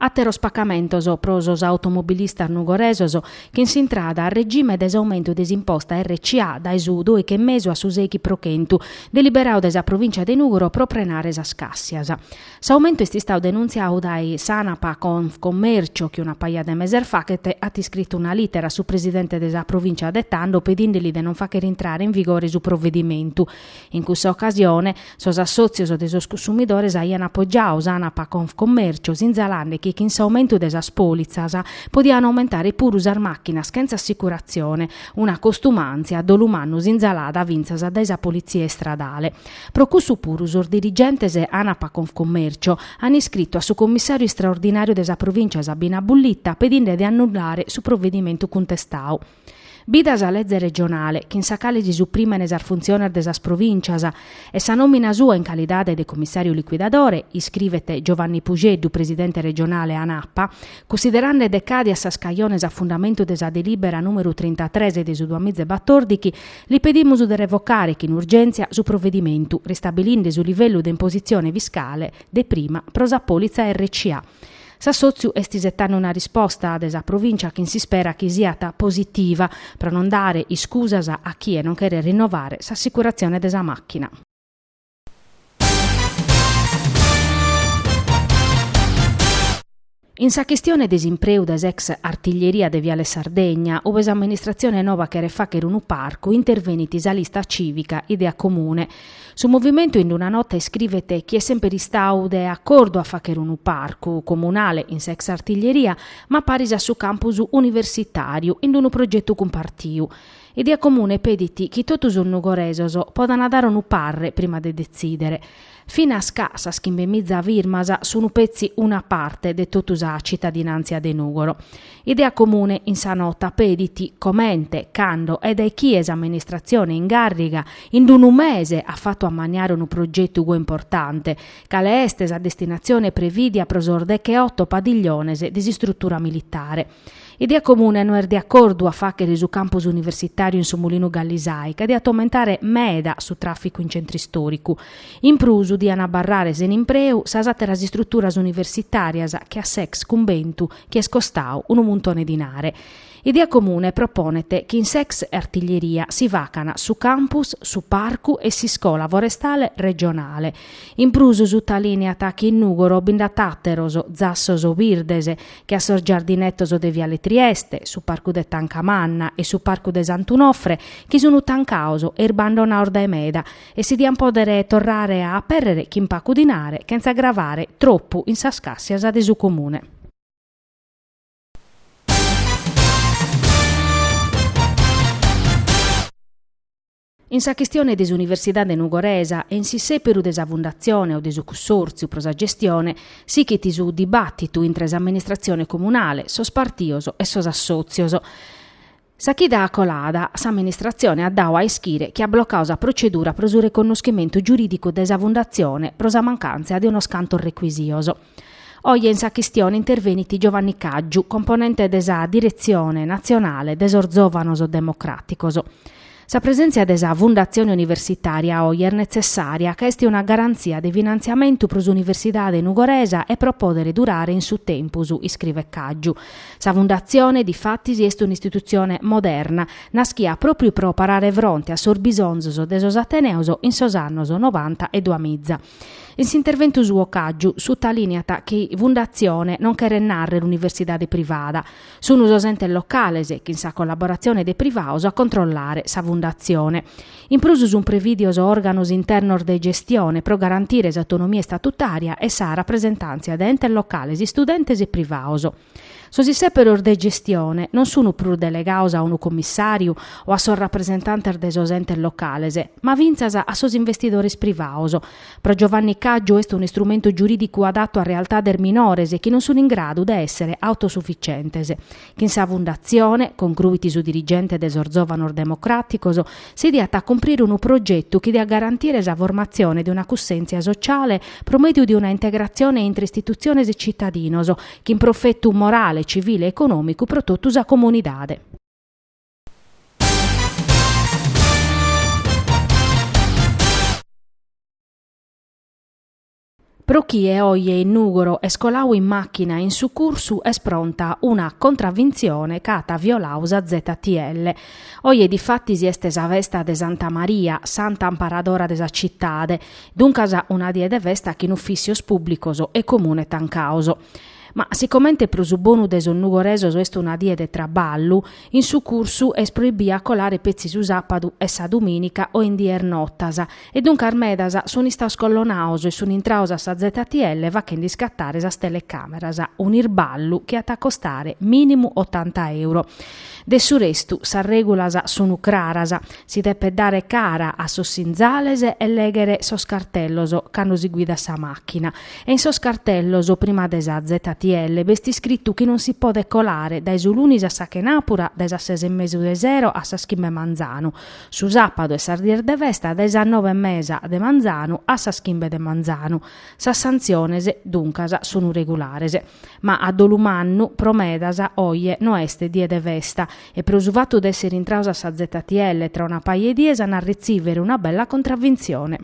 Àteros pacamentos pro sos automobilistas nugoresos chin s'intrada a regime de s'aumentu de s'imposta RCA dae su dòichi e mesu a su sèichi pro chentu, deliberadu dae sa Provìncia de Nùgoro pro prenare sas càssias. S'aumentu est istadu denuntziadu dae s'Anapa Confcommercio chi una paja de meses faghet at iscritu una lìtera a su presidente de sa Provìncia de tando pedìndeli de non fàghere intrare in vigore su provedimentu In cussa ocasione, sos assòtzios de sos consumidores aian apogiadu s'Anapa Confcommercio, sinzalande chi chin s'aumentu de sas pòlitzas podian aumentare puru sas màchinas chentza assicuratzione, una costumàntzia dolumannu sinzalada fintzas dae sa Politzia Istradale. Pro cussu puru sos dirigentes Anapa Confcommercio an iscritu a su Commissàriu Istraordinàriu de sa Provìncia Sabina Bullitta pedinde de annullare su provedimentu cuntestadu. Bida sa leze regionale, chin sa cale si suprìmene sas funtziones de sas provìncias, e sa nòmina sua in calidade de comissàriu liquidadore, iscrivet Giovanni Puxeddu, presidente regionale ANAPA, cunsiderande decàdias sas cajones a fundamentu de sa delìbera nùmeru trintatres de su duamiza e batòrdighi, li pedimus de revocare chin urgèntzia su provedimentu, ristabilinde su livellu de impositzione fiscale de prima pro sa pòlitza RCA. S'assòtziu est isetande una risposta de sa Provìncia chi s'isperat chi siat positiva, pro non dare iscusas a chie non cheret rinnovare s'assicuratzione de sa màchina. In sa chistione de s'impreu de s'ex Artiglieria de Viale Sardegna, ube s'amministratzione nova cheret fàghere unu parcu, intervenit sa Lista Cìvica Idea Comune, Su movimentu in una nota iscrivet chi est semper istadu de acordu a fagher unu parcu comunale in s'ex artiglieria ma paris a su campus universitàriu in unu progetu cumpartiu. Idea comune pedit chi totu sos nugoresos podant dare unu parre prima de detzìdere. Finas ca sas chimbemiza firmas sunt petzi una parte de totu sa citadinàntzia de Nùgoro. Idea comune in sa nota pedit comente, cando e dae chie s'amministratzione in gàrriga in unu mese at fatu ammaniare unu progetu goi importante, cale est sa destinatzione prevìdia pro sos decheoto padigliones de s'istrutura militare. Idea comune no est de acordu a fàghere su campus universitàriu in su Mulinu Gallisai, ca diat aumentare meda su tràficu in centru istòricu. In prus, dian abarrare sena impreu sas àteras istruturas universitàrias che a s'ex cumbentu chi est costau unu muntone dinare. Idea comune proponet chi in s'ex artiglieria si facan su campus, su parcu e s'iscola forestale regionale. In prus sutalìneat chi in Nùgoro bi nd'at àteros zassos birdes che a sos giardinetos de Viale Trieste, su parcu de Tancamanna e su parcu de Sant'Unofre chi sun tancados e irbandonados dae meda e si diant pòdere torrare a apèrrere chin pagu dinare chentza agravare tropu in sas càssias de su Comune. In sa chistione de s'Universidade nugoresa e in s'issèperu de sa fundatzione o de su cussòrtziu pro sa gestione, sighit su dibàtitu intre s'amministratzione comunale, sos partidos e sos assòtzios. Sa chida colada, s'amministratzione at dadu a ischire chi at blocadu sa procedura pro su reconnoschimentu giurìdicu de sa fundatzione pro sa mancàntzia de unos cantos recuisios. Oje in sa chistione intervenit Giovanni Caggiu, componente de sa Diretzione natzionale de sos Zòvanos Democràticos. Sa presèntzia de sa Fundatzione Universitària oje est netzessària ca est una garantzia de finantziamentu pro s'universidade nugoresa e pro pòdere durare in su tempus, iscrivet Caggiu. Sa Fundatzione, difatis, est un'istitutzione moderna, naschia pròpriu pro parare fronte a sos bisonzos de sos ateneos in sos annos novanta e duamiza. In s'interventu suo Caggiu sutalìniat chi fundatzione non cheret nàrrere universidade privada, sunt sos entes locales, chin sa collaboratzione de privados, a controllare sa fundatzione. In prus sunt prevìdios òrganos internos de gestione pro garantire s'autonomia istatutària e sa rapresentàntzia de entes locales, istudentes e privados. Sos isèperos de gestione non sunt prus delegados a unu commissàriu o a sos rapresentantes de sos entes locales, ma fintzas a sos investidores privados. Pro Giovanni Caggiu est un'istrumentu giurìdicu adatu a realtades minores chi non sunt in gradu de èssere autosufitzientes. Chin sa fundatzione, concruit su dirigente de sos Zòvanos Democràticos, si diat a cumprire unu progetu chi diat garantire sa formatzione de una cussèntzia sociale pro mèdiu de una integratzione intre istitutziones e tzitadinos, Chin profetu morale, civile e econòmicu pro totu sa comunidade. Pro chie oje in Nùgoro est colau in màchina in su cursu est pronta una contravintzione ca at violau sa ZTL. Oje difatis est sa festa de Santa Maria, santa amparadora de sa citade. Duncas una die de festa chin uffissios publicos e comune tancaos. Ma sicomente pro su bonu de sos nugoresos est una die de traballu, in su cursu est proibiu a colare petzi su sapadu e sa dominica o in dies notas e duncas medas sun istaos collonaos e sun intraos a sa ZTL fachende iscattare sas telecameras, un'irballu chi at a costare minimu ottanta euro. De su restu sas regulas sunu craras, Si depet dare cara a sos sinzales e lèghere sos cartellos cando si guidat sa màchina. E in sos cartellos, prima de sa ZTL, b'est iscritu chi non si podet colare dae su lunis a sa chenàpura dae sas ses e mesu de sero a sas chimbe 'e manzanu, su sàpadu e sas dies de festa dae sas nobe e mesa de manzanu a sas chimbe de manzanu. Sas santziones, duncas, sun regulares. Ma a dolu mannu, pro medas, oje no est die de festa e pro su fatu de essere intraus a sa ZTL tra una paja 'e dies an a retzìvere una bella contravintzione.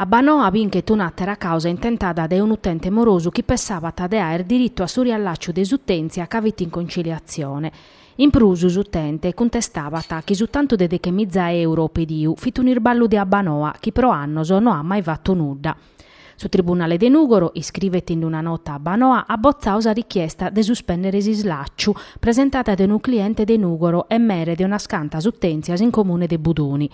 Abbanoa binchet un'àtera càusa intentada dae un'utente morosu chi pessabat de àere diritu a su riallàciu de s'utèntzia ca fit in conciliatzione. In prus, s'utente cuntestabat chi su tantu de deche miza euro pediu fit un'irballu de Abbanoa chi pro annos no at mai fatu nudda. Su Tribunale de Nùgoro, iscrivet in una nota Abbanoa, at botzau sa richiesta de suspèndere s'islàciu presentada de unu cliente de Nùgoro e mere de unas cantas utèntzias in comune de Buduni.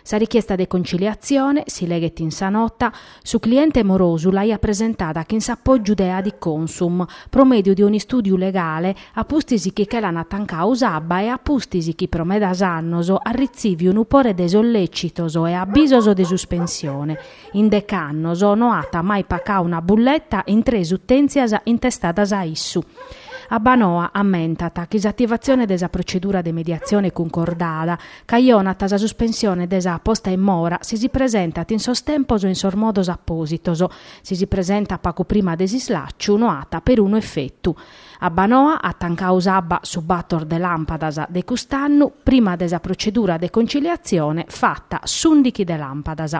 Sa richiesta de conciliatzione, si leghet in sa nota, su cliente morosu l'aiat presentada chin s'apògiu de Adiconsum, pro mèdiu de un'istùdiu legale, a pustis chi che l'an tancau s'abba e a pustis chi pro medas annos at ritzìviu unu pore de sollècitos e abisos de suspensione, In dec'annos no at mai pacau una bulleta in tres utèntzias intestadas a issu. Abbanoa ammentat chi s'ativatzione de sa protzedura de mediatzione cuncordada cajonat sa suspensione de sa posta in mora si si presentat in sos tempos e in sos modos apòsitos. Si si presentat pacu prima de s'islàciu no at perunu efetu. Abbanoa at tancau s'abba su bator de làmpadas de cust'annu prima de sa procedura de conciliatzione fata s'ùndichi de làmpadas.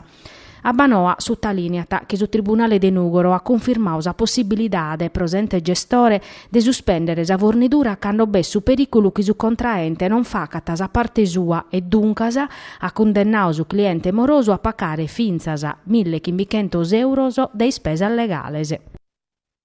Abbanoa sutalìneat chi su tribunale de Nùgoro at cunfirmau sa possibilidade pro s'ente gestore de suspèndere sa fornidura cando b'est su perìculu chi su contraente non facat sa parte sua e duncas at cundennau su cliente morosu a pacare fintzas mille chimbichentos èuros de ispesas legales.